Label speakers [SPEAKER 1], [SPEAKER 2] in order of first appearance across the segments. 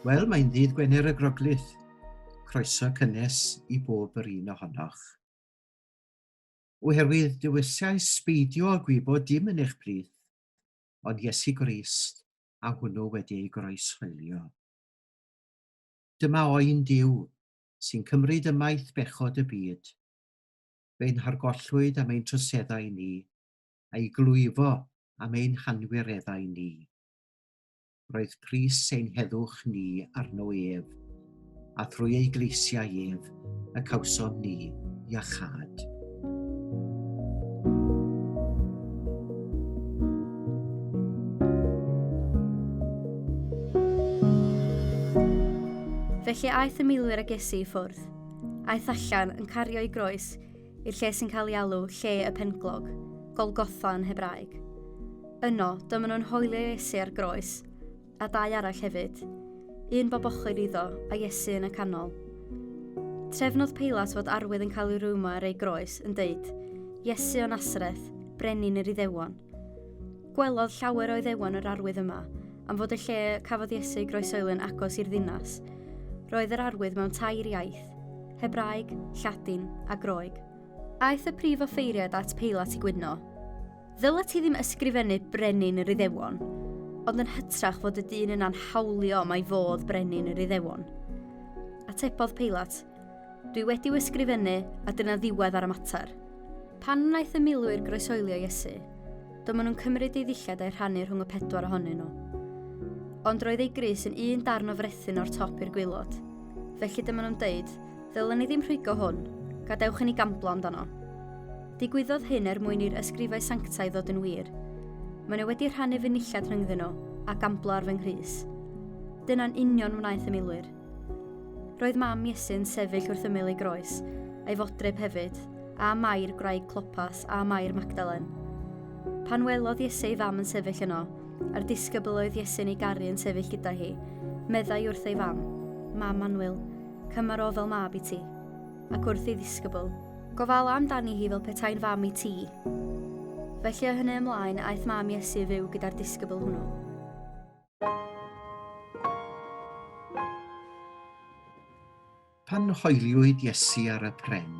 [SPEAKER 1] Wel, mae'n ddydd Gwener y Groglith. Croeso cynnes i bob yr un ohonoch. Oherwydd dywesiau sbeidio a gwybod dim yn eich plith, ond Iesu Grist a hwnnw wedi ei groeshoelio. Dyma oen Duw, sy'n cymryd ymaith bechod y byd, fe'n hargollwyd am ein troseddau ni, a'i glwyfo am ein hanwireddau ni. Roedd pris ein heddwch ni arno ef, a thrwy ei gleisiau ef y cawsom ni iachâd. Felly aeth y milwyr ag Iesu i ffwrdd. Aeth allan yn cario ei groes i'r lle sy'n cael ei alw lle y penglog, Golgotha yn Hebraeg. Yno, dyma nhw'n hoelio Iesu ar groes, a dau arall hefyd, un bob ochr iddo, a Iesu yn y canol. Trefnodd Peilat fod arwydd yn cael ei rwymo ar ei groes, yn deud, Iesu o Nasreth, brenin yr Iddewon. Gwelodd llawer o Iddewon yr arwydd yma, am fod y lle cafodd Iesu ei groesoeli yn agos i'r ddinas. Roedd yr arwydd mewn tair iaith, Hebraeg, Lladin a Groeg. Aeth y prif offeiriad at Peilat i gwydno. Ddyla ti ddim ysgrifennu brenin yr Iddewon, ond yn hytrach fod y dyn yna'n hawlio mai fodd brenin yr Iddewon. Atebodd Peilat, Dwi wedi'w ysgrifennu, a dyna ddiwedd ar y mater. Pan wnaeth y milwyr groesoelio Iesu, do maen nhw'n cymryd ei ddillad a'i rhannu rhwng y pedwar ohonyn nhw. Ond roedd ei grys yn un darn o frethyn o'r top i'r gwylod. Felly dyma nhw'n dweud, ddylen ni ddim rhwygo hwn, gadewch i ni gamblo amdano. Digwyddodd hyn er mwyn i'r ysgrifau sanctaidd ddod yn wir. Mae nhw wedi rhannu fy nillad rhyngddyn nhw, a gamblo ar fy nghrys. Dyna'n union wnaeth y milwyr. Roedd mam Iesu'n sefyll wrth ymyl ei groes, a'i fodryb hefyd, a Mair, gwraig Clopas, a Mair Magdalen. Pan welodd Iesu ei fam yn sefyll yno, a'r disgybl oedd Iesu'n ei garu yn sefyll gyda hi, meddai wrth ei fam, Mam Manwyl, cymar o fel mab i ti. Ac wrth ei ddisgybl, Gofala amdani hi fel petai'n fam i ti. Felly o hynny ymlaen, aeth mam Iesu fyw gyda'r disgybl hwnnw. Pan hoeliwyd Iesu ar y pren,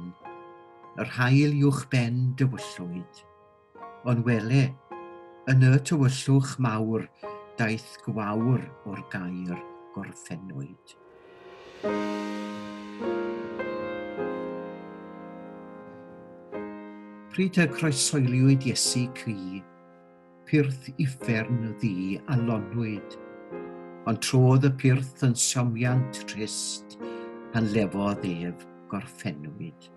[SPEAKER 1] yr haul uwchben dywyllwyd. Ond wele, yn y tywyllwch mawr daeth gwawr o'r gaer gorffennwyd. Pryd y croesoeliwyd Iesu cri, pyrth uffern ddi a lonwyd, ond trodd y pyrth yn siomiant trist pan lefodd ef gorffennwyd.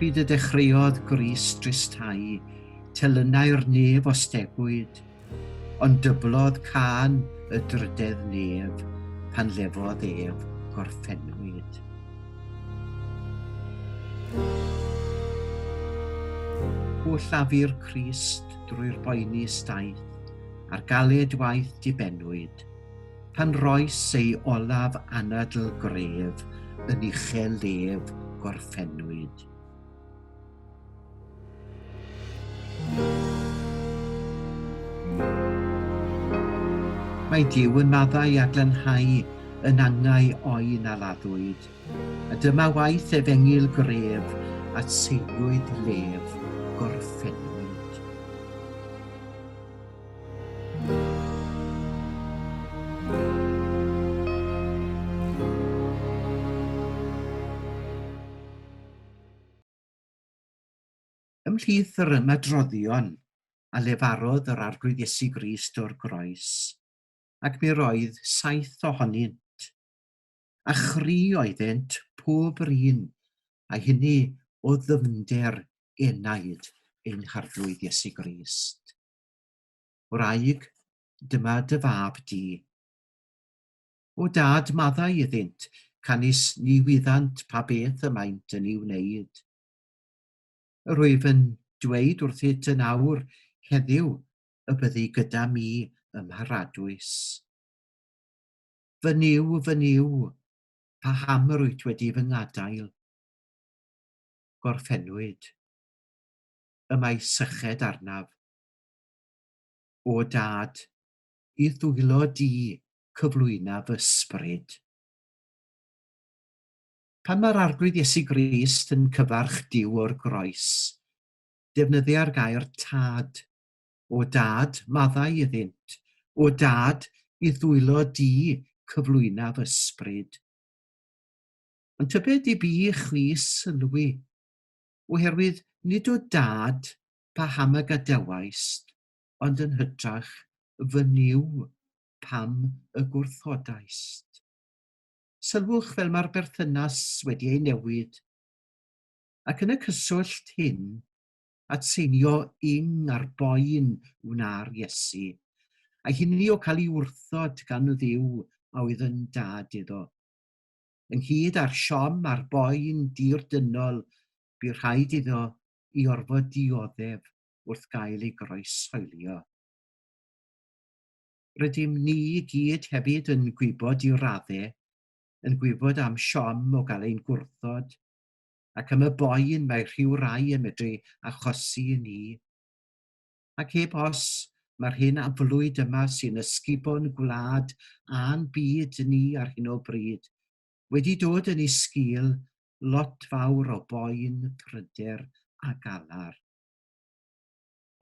[SPEAKER 1] Pryd y dechreuodd Gris dristau, telynau'r nef o stegwyd, ond dyblodd can y drydedd nef pan lefodd ef gorffennwyd. O llafu'r Crist drwy'r boeni staeth, a'r galed waith dibennwyd, pan roes ei olaf anadl gref yn uchel lef gorffennwyd. Mae Dyw yn maddau a glanhau yn angau o'i na laddwyd, a dyma waith ef engil gref at seilwyd lef gorffennwyd. Ymhlith yr ymadroddion a lefarodd yr Arglwydd Iesu Grist o'r groes, ac mi roedd saith ohonynt. a chri oeddent pob yr un, a hynny o ddyfnder enaid ein Harglwydd Iesu Grist. Wraig, dyma dy fab di. O dad, maddau iddynt, canys ni wyddant pa beth y maent yn ei wneud. Yr wyf yn dweud wrthyt yn awr heddiw y byddi gyda mi ym Mharadwys. Fy Nuw, fy Nuw, paham yr wyt wedi fy ngadael? Gorffennwyd. Y mae syched arnaf. O Dad, i ddwylo di cyflwyna fy sbryd. Pan mae'r Arglwydd Iesu Grist yn cyfarch Duw o'r groes, defnyddia'r gair Tad O Dad, maddau iddynt. O Dad, i ddwylo Di cyflwynaf Ysbryd. Ond tybed i bi chwi sylwi, oherwydd nid o Dad paham y gadawaist, ond yn hytrach fy Nuw pam y gwrthodaist. Sylwch fel mae'r berthynas wedi ei newid. Ac yn y cyswllt hyn, at seinio ing ar boen wna'r Iesu, a hynny o cael ei wrthod gan y Dduw a oedd yn Dad iddo. Ynghyd â'r siom ar boen dir dynol bu rhaid iddo i orfod dioddef wrth gael ei groeshoelio. Rydym ni i gyd hefyd yn gwybod i radde, yn gwybod am siom o gael ein gwrthod, ac am y boen mae rhyw rai yn medru achosi i ni. Ac heb os, mae'r hyn aflwyd yma sy'n ysgubo'n gwlad a'n byd ni ar hyn o bryd wedi dod yn ei sgil lot fawr o boen, pryder a galar.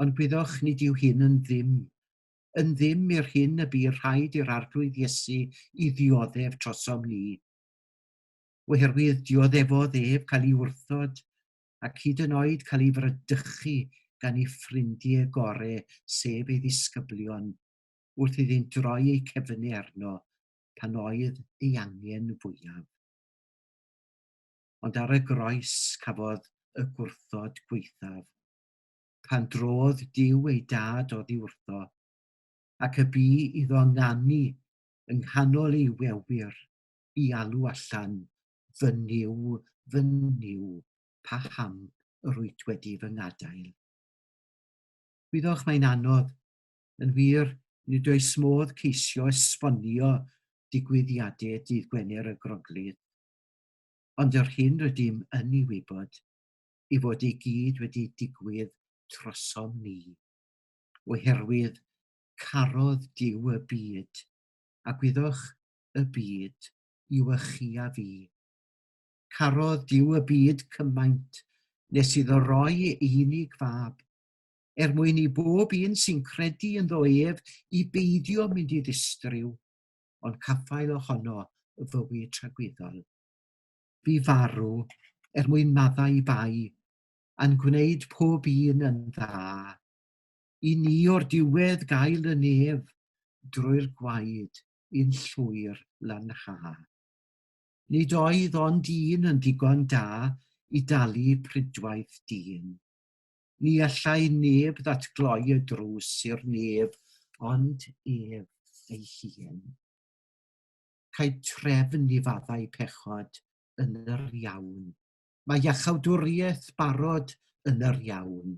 [SPEAKER 1] Ond gwyddoch, nid yw hyn yn ddim, yn ddim i'r hyn y bu rhaid i'r Arglwydd Iesu i ddioddef trosom ni. oherwydd dioddefodd ef cael ei wrthod ac hyd yn oed cael ei fradychu gan ei ffrindiau gorau, sef ei ddisgyblion, wrth iddynt droi eu cefnau arno pan oedd ei angen fwyaf. Ond ar y groes cafodd y gwrthod gwaethaf, pan drodd Duw ei dad oddi wrtho, ac y bu iddo nganu yng nghanol ei wewyr i alw allan fy Nuw, fy Nuw, paham yr wyt wedi fy ngadael? Gwyddoch mae'n anodd, yn wir, nid oes modd ceisio esbonio digwyddiadau dydd Gwener y Groglith, ond yr hyn rydym yn ei wybod ei fod ei gyd wedi digwydd trosom ni, oherwydd carodd Duw y byd, a gwyddoch y byd yw y chi a fi. Carodd Duw y byd cymaint nes iddo roi ei unig fab, er mwyn i bob un sy'n credu ynddo ef i beidio mynd i ddistriw, ond caffael ohono y fywyd tragwyddol. Bu farw er mwyn maddau i bai, a'n gwneud pob un yn dda. I ni o'r diwedd gael y nef drwy'r gwaed i'n llwyr lanhau. Nid oedd ond un yn ddigon da i dalu prydwaith dyn. Ni allai neb ddatgloi y drws i'r neb ond ef ei hun. Cae trefn i faddau pechod yn yr iawn. Mae iachawdwriaeth barod yn yr iawn.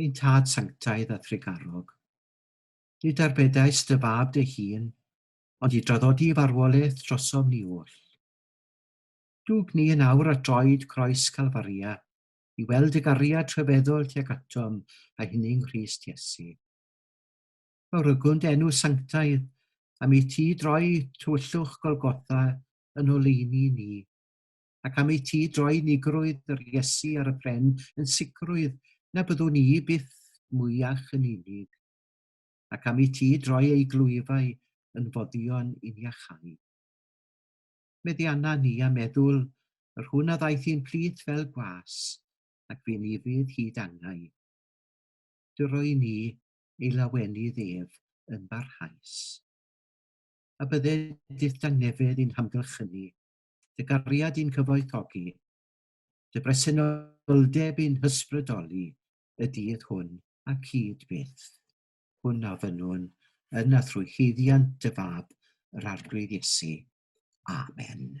[SPEAKER 1] ein Tad Sanctaidd a Thregarog. Nid arbedais dy fab dy hun, ond i draddodi farwolaeth drosom ni oll. Dwg ni yn awr at droed croes Calfaria i weld y gariad rhyfeddol tuag atom a hynny yng Nghrist Iesu. Fawrygwnd enw sanctaidd am i ti droi tywyllwch Golgotha yn oleuni ni. ac am ei ti droi unigrwydd yr Iesu ar y pren yn sicrwydd na byddwn i byth mwyach yn unig, ac am ei ti droi ei glwyfau yn foddion i ni achau. Meddianna ni a meddwl yr hwn a ddaeth i'n plith fel gwas, ac fi'n ifydd hyd angau. Dyroi ni ei lawenydd ef yn barhaus. A bydde dydd dangnefedd i'n hamgylchynu, dy gariad i'n cyfoethogi, dy bresenoldeb i'n hysbrydoli y dydd hwn a cyd byth. Hwn a fynnwn yn a thrwy huddiant dy fab, yr Arglwydd Iesu. Amen.